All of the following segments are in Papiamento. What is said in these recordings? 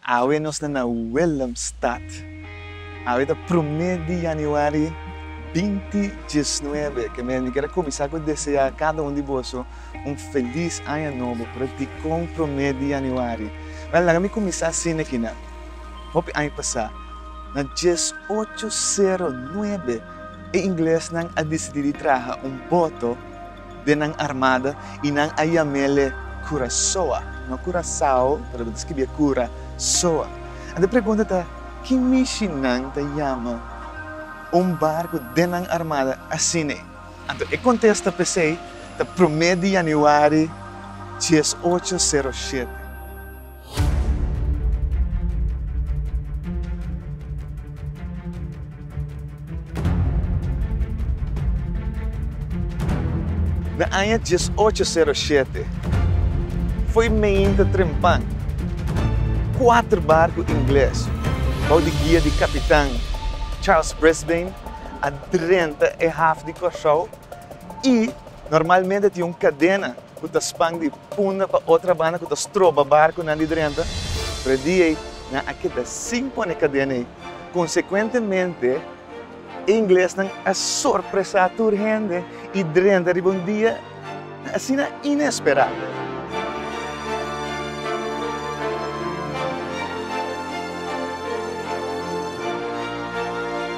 Awe nos ta na Willemstad. Awe ta promé di yanüari binti diesnuebe. Ke mester mi ker a kuminsá ku deseá kada un di boso un felis aña nobo, pero dikon promé di yanüari? Bèn, laga mi kuminsá asina aki nan. Hopi aña pasá, na dies ocho sero nuebe, e inglesnan a disidí di traha un boto, den nan armada y nan a yamele Curasoa, no Curasao, pero bo ta scribie Cura soa. Anta e pregunta ta, ki mishi nan ta yama un barco den nan armada asine? Anto e contesta pesey ta prome di Januari diesocho sero shete. Na aña dies ocho sero shete, fo'i meinta trempan, kuater barku ingles, bou di guia di kapitan Charles Brisbane, a drenta e haf di Kòrsou i Normalmente tin un kadena ku ta span di punda pa otra banda ku ta stroba barkunan di drenta, pero e dia ei nan a keda sin pone e kadena ei. Konsekuentemente, e inglesnan a sorpresá tur hende i drenta riba un dia asina inesperá.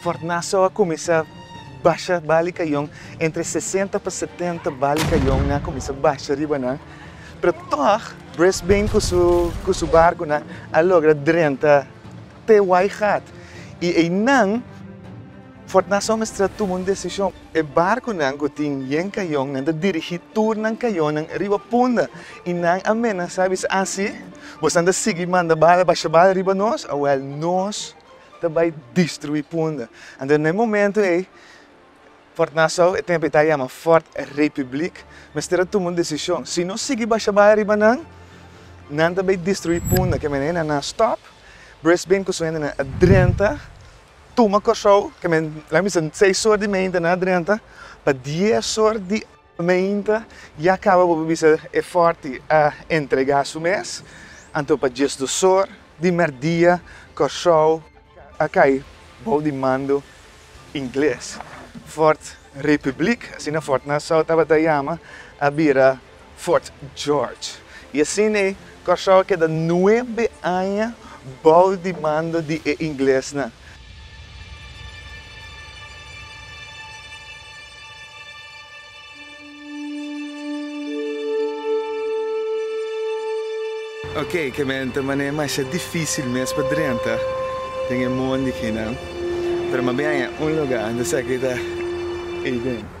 Fornaso a kuminsá basha bali kayon, entre sesenta pa setenta bali kayon a kuminsá basha riba nan, pero tòg Brisbane ku su ku su barkunan a logra drenta te Waigat i einan, Fort Nassau mester a tuma un desishon. E barkunan ku tin yen kayon nan ta dirigí tur nan kayonnan riba punda i nan a menasá bisa, Asi bosan ta sigui manda bala basha bala riba nos, awèl nos ta bai destruí punda. Anto na e momentu ei Fort Nassau, e tempu ei ta yama Fort Republiek, mester a tuma un desishon. Si no sigui basha bala riba nan, nan ta bai destruí punda. Ke manera nan a stòp Brisbane ku su hendenan a drenta. Tuma Kòrsou ke men laga mi sen seis sort di meinta na drenta pa dies sort di meinta ya kaba bo por bisa e fòrti a entregá su mes anto pa dies dos sort di mèrdia Kòrsou a kai bou di mando ingles Fort Republiek asina Fort Nassau tabata yama a bira Fort George, y asina e Curaçao keda nuebe aña bao di mando di e inglesnan. Ok, kemen ta manera masha dificil mes pa drenta den e mondi kinan, pero mabien hay un lugar, ta sa ki ta ey den.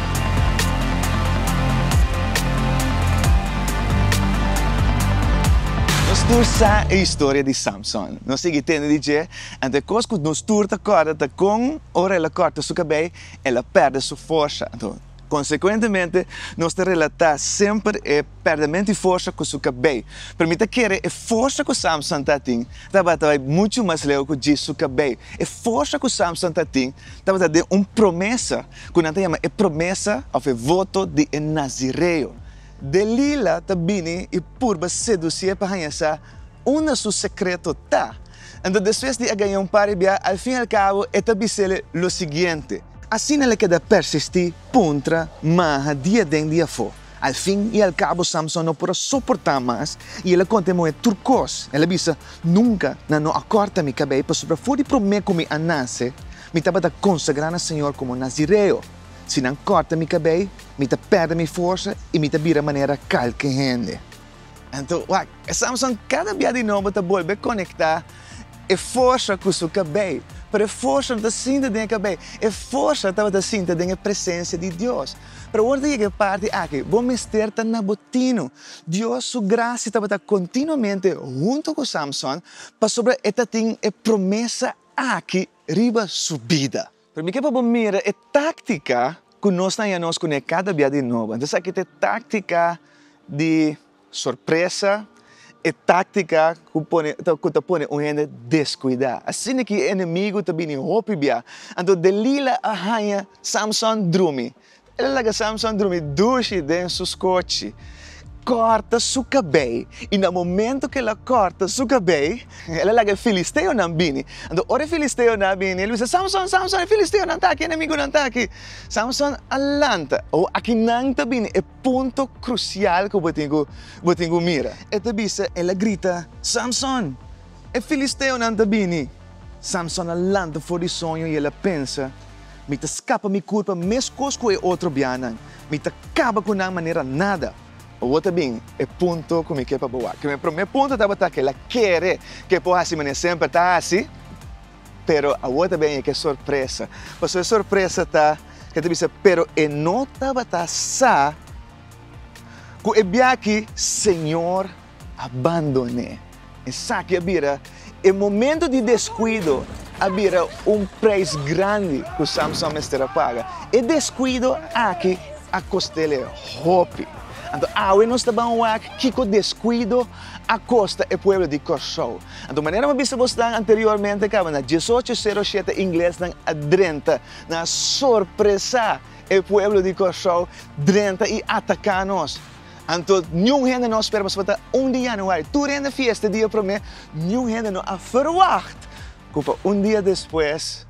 Nos tur sa e historia di Samson. Nos sigui tende di dje, anto e kos ku nos tur ta kòrda ta kon ora el a kòrta su kabei, el a pèrdè su forsa. Anto, konsekuentemente, nos ta relatá semper e. pèrdemento i forsa ku su kabei. Pero mi ta kere e forsa ku Samson ta tin tabata bai muchu mas leu ku djis su kabei. E forsa ku Samson ta tin tabata den un promesa ku nan ta yama e promesa òf e voto di e nazireo. Delila ta bini i purba sedusié pa haña sa unda su sekreto ta. Anto despues di a gaña un par di bia, al fin al kabo e ta bisel lo siguiente. Asina el a keda persistí puntra maha diaden diafó. Al fin i al cabo Samson no por a soportá mas i el a conta e muhé tur cos. El a bisa, Nunca nan no a corta mi cabei, pasobra afó di promé cu mi a nace, mi tabata consagrá na Señor como nazireo. Si nan corta mi cabei, mi ta perde mi forsa i mi ta bira manera calke hende. Anto, wak, Samson cada bia di nobo ta bolbe conectá e forsa cu su cabei, pero e forsa no ta sinta den e cabei, e forsa tabata sinta den e presencia di Dios. Pero ora ta yega e parti aki, bo mester ta na bo tinu. Dios su gracia tabata continuamente hunto cu Samson, pasobra e ta tin e promesa aki riba su bida. Pero mi kier pa bo mira e tactica cu nos ta haña nos cune cada bia di nobo. Entonces aki ta e tactica di. Sorpresa e táctica cu pone cu ta pone un hende descuida. Asina ki e enemigo ta bini hopi bia. Anto Delila a haña Samson drumi. El a laga Samson drumi dushi den su scochi, corta su cabei i na momento cu el a corta su cabei el a laga e filisteonan bini. Anto ora e filisteonan a bini el a bisa, Samson, Samson e filisteonan ta aki, e enemigonan ta aki. Samson a lanta, oh aki nan ta bini e punto krusial ku bo tin ku bo tin ku mira. E ta bisa, el a grita, Samson! E filisteonan ta bini! Samson a lanta for di soño i el a pensa, Mi ta skapa mi kurpa meskos ku e otro bianan. Mi ta kaba ku nan manera nada. Awor ta bin e punto ku mi ke pa bo wak. Mi promé punto tabata ku el a kere ke por hasi manera semper ta hasi. Pero awor ta bini ke sorpresa. Paso e sorpresa ta, e ta bisa, pero e no tabata sa ku e biaha Señor a bandoné. Esaki a bira, e momento di deskuido a bira un preis grandi ku Samson mester a paga. E deskuido aki a kosta el e hopi. Anto awe nos ta ban wak kiko deskuido a kosta e pueblo di Kòrsou. Anto manera bo bisa bos nan anteriormente kabana diesocho sero shete inglesnan a drenta, nan a sorpresá e pueblo di Kòrsou, drenta i ataká nos. Anto niun hende no a spera pasobra ta un di yanüari, tur hende fiesta e dia promé, niun hende no a ferwagt ku pa un dia despues,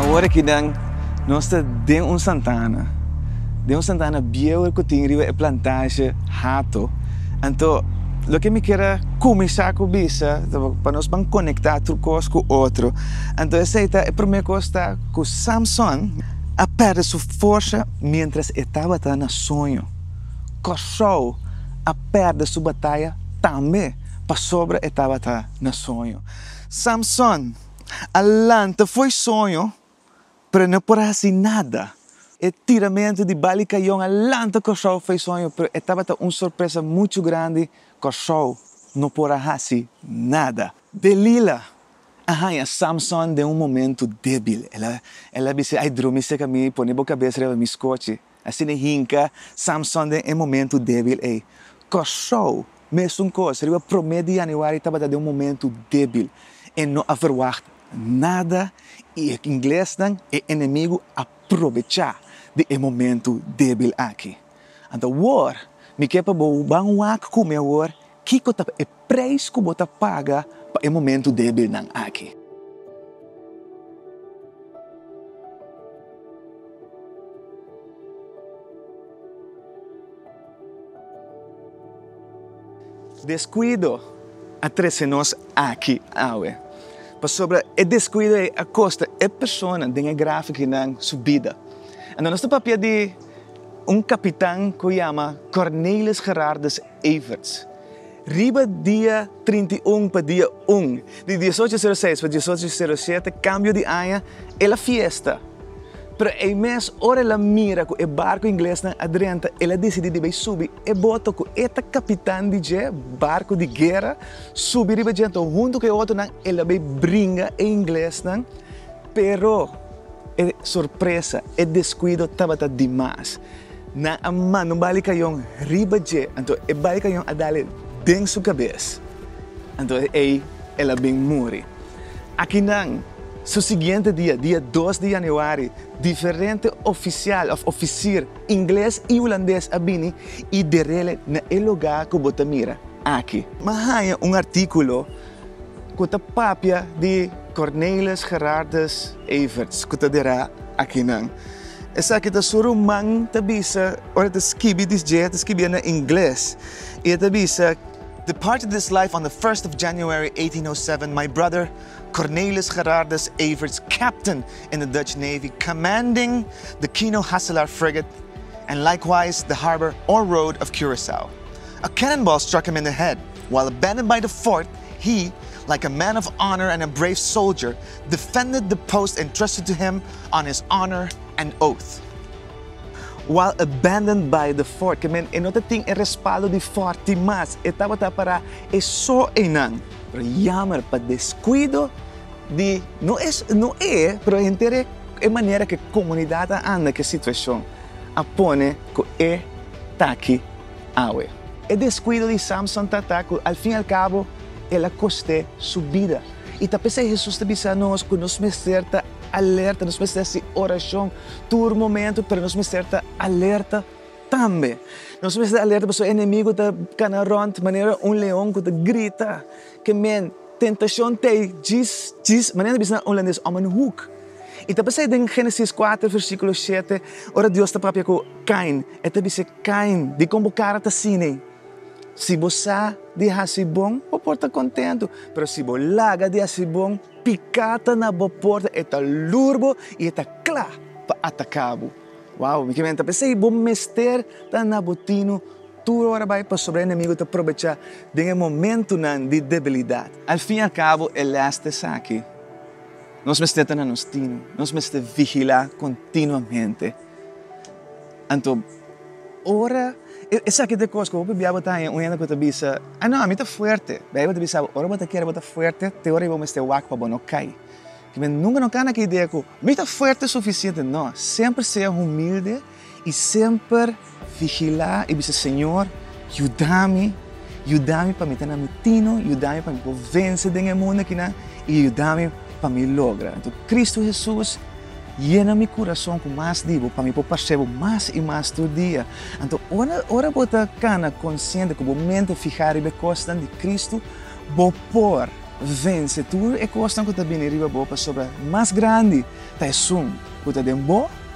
Awor aki nan nos ta den un santana, den un santana bieuer ku tin riba e plantashe Hato. Anto loke mi kier a kuminsá ku bisa tabata pa nos ban konektá tur kos ku otro. Anto esei ta e promé kos ta ku Samson a pèrdè su forsa miéntras e tabata na soño. Kòrsou a pèrdè su bataya tambe pasobra e tabata na soño. Samson a lanta fo'i soño, pero e no por hasi nada. E tiramentu di balikayon a lanta Kòrsou fo'i soño, pero e tabata un sorpresa muchu grandi, Kòrsou no por a hasi nada. Delila a haña Samson den un momentu débil. El a bisa, Ai, drumi seka mi, pone bo kabes riba mi skochi. Asina e hinka Samson den e momentu débil ei. Kòrsou, mesun kos, riba promé di yanüari tabata den un momentu débil. E no a verwagt nada i e inglesnan, e enemigu, a probechá di e momentu débil aki. Anto awor mi ke pa bo ban wak ku mi awor Kiko ta e preis ku bo ta paga pa e momentu débilnan aki? Deskuido a trese nos aki awe, pasobra e deskuido ei a kosta e persona den e gráfiko ei nan su bida. Anto nos ta papia di un kapitan ku yama Cornelis Gerardus Everts. Riba dia trinta i un pa dia un di diesocho sero seis pa diesocho sero shete kambio di aña el a fiesta. Pero ei mes ora el a mira ku e barku inglesnan a drenta el a disidí di bai subi e boto ku e ta kapitan di dje barku di guera, subi riba dje anto huntu ku e otronan el a bai bringa e inglesnan. Pero e sorpresa, e descuido tabata di mas. Nan a manda un bali cayon riba dje, anto e bali cayon a dale den su cabes, anto ey el a bin muri. Akinan, su siguiente dia, dia dos di januari, diferente oficial of oficir ingles y hulandes a bini y derele na e lugar cu bo ta mira aki. M'a haña un articulo. ku ta papia di Cornelis Gerardus Everts ku ta dera akinan. Esaki ta su ruman ta bisa ora e ta skibi di dje, e ta skibia na ingles i e ta bisa, Departed this life on the first of January eighteen oh seven my brother Cornelis Gerardus Everts captain in the Dutch Navy commanding the Kino Hasselaar frigate and likewise the harbor or road of Curaçao. A cannonball struck him in the head, while abandoned by the fort, he, like a man of honor and a brave soldier, defended the post entrusted to him on his honor and oath. While abandoned by the fort, ke men e no ta tin e respaldo di fort tin mas, e tabata para e so eynan. Pero yamer pa descuido di, no e, pero henter e, e manera ke comunidad a anda ke situacion. a pone cu e ta aki awe. E descuido di Samson ta ta cu al fin y al cabo el a coste su bida. Y ta p'esey Jesús ta bisa nos cu nos mester ta alerta, nos mester haci oracion tur momento, pero nos mester ta alerta tambe. Nos mester ta alerta pasobra e enemigo ta cana rond manera un leon cu ta grita. Ke men. Tentacion t'ei djis, djis, manera bisa na Holandés, om en hoek. I ta basei den Génesis kuater versíkulo shete, ora Dios ta papia ku Kain, e ta bis'é, Kain, dikon bo kara ta sin'ei? Si bo sa di hasi bon, bo por ta kontentu, pero si bo laga di hasi bon, piká ta na bo porta, e ta lur bo i e ta kla pa ataká bo. Wow! Mi kier menen ta basei, bo mester ta na bo tinu. Tur ora bai pasobra enemigo ta probechá den e momentunan di debilidat. Al fin i al cabo e les ta esaki, nos mester ta na nos tino, nos mester vigilá continuamente. Anto ora esaki ta e cos cu hopi bia bo ta haña un hende cu ta bisa, Ah no, mi ta fuerte. Bai e bo ta bisabo, ora bo ta kere bo ta fuerte te ora bo mester wak pa bo no cay. Kimen nunca no cana cu idea cu, Mi ta fuerte suficiente. No, semper sea humilde. I semper vigilá i bisa, Señor, yuda mi, yuda mi pa mi ta na mi tino, yuda mi pa mi por vense den e mundu akinan i yuda mi pa mi logra. Anto, Kristu Hesus, yena mi kurason ku mas di bo pa mi por parse bo mas i mas tur dia. Anto, ora, ora bo ta kana konsiente ku bo mente fihá riba e kosnan di Kristu, bo por vense tur e kosnan ku ta bini riba bo, pasobra mas grandi ta Esun ku ta den bo,